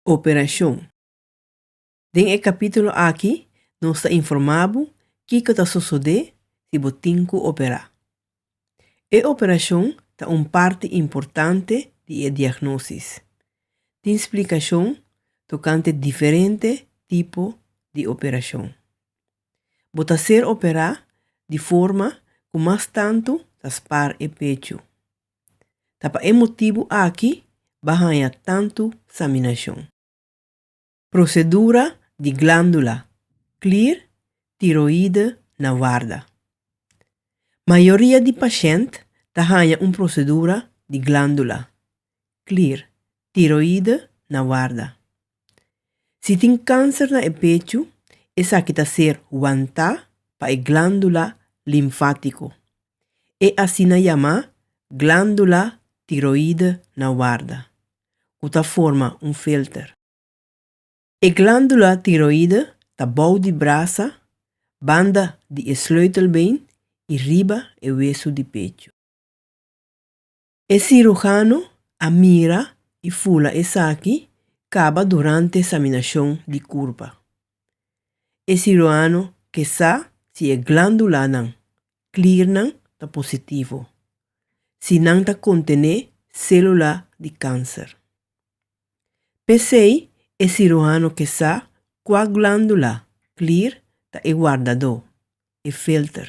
Operacion. Den e capítulo aki nos ta informá bo kiko ta sosodé si bo tin ku operá. E operacion ta un parti importante di e diagnosis. Tin splicacion tokante diferente tipo di operacion. Bo ta ser operá di forma ku mas tantu ta spar e pechu. Ta pa e motibu aki ba haña tantu saminashon. Prosedura di glándula clear tiroide na warda. Mayoria di pashent ta haña un prosedura di glándula clear tiroide na warda. Si tin kanser na e pechu, esaki ta ser wantá pa e glándula linfátiko, e asina yamá glándula tiroide na warda, ku ta forma un filter. E glándula tiroide ta bou di brasa, banda di e sleutelbeen i riba e wesu di pechu. E sirujano a mira i fula esaki kaba durante eksaminashon di kurpa. E siruano ke sa si e glándulanan, klirnan, ta positivo, si nan ta kontené sélula di kánser. P'esei e siruano ke sa kua glándula, klir, ta e wardadó, e filter.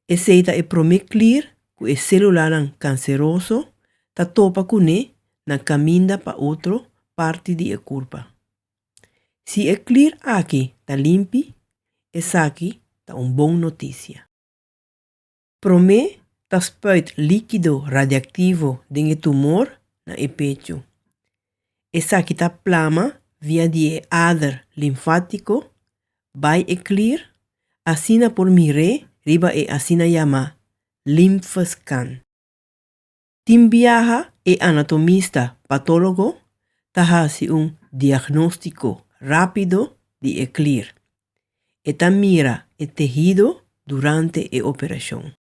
Esei ta e promé klir ku e sélulanan kanseroso ta topa kuné na kaminda pa otro parti di e kurpa. Si e klir aki ta limpi, esaki ta un bon notisia. Promé ta spuit líkido radiaktivo den e tumor na e pechu. Esaki ta plama via di e ader linfátiko bai e klier, asina por mir'é riba e asina yamá limfeskan. Tin biaha e anatomista patólogo ta hasi un diagnóstiko rápido di e klier. E ta mira e tehido durante e operashon.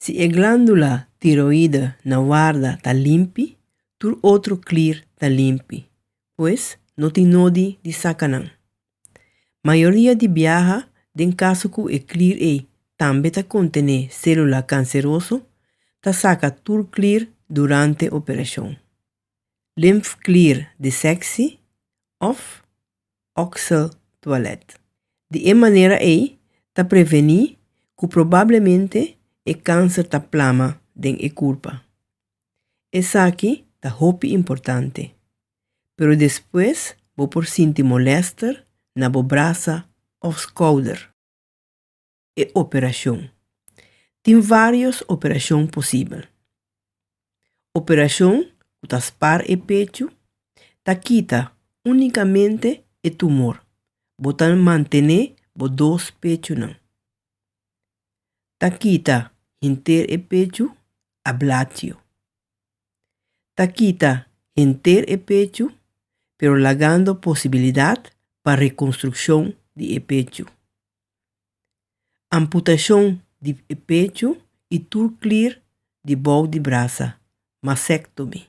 Si e glándula tiroide na warda ta limpi, tur otro klier ta limpi, pues no tin nodi di saka nan. Mayoria di biaha den kaso ku e klir ei tambe ta kontené sélula kanseroso, ta saka tur klir durante operashon. Limfklir di seksi òf òksel tualet. Di e manera ei ta prevení ku probablemente e kanser ta plama den e kurpa. Esaki ta hopi importante. pero despues bo por sinti molèster na bo brasa òf skouder. E operashon. Tin vários operashon posibel. Operashon ku ta spar e pechu ta kita únikamente e tumor, bo ta mantené bo dos pechunan. Ta kita henter e pechu, ablatio. ta kita henter e pechu pero lagando posibilidat pa rekonstrukshon di e pechu. Amputashon di e pechu i tur klir di bou di brasa, mastectomy.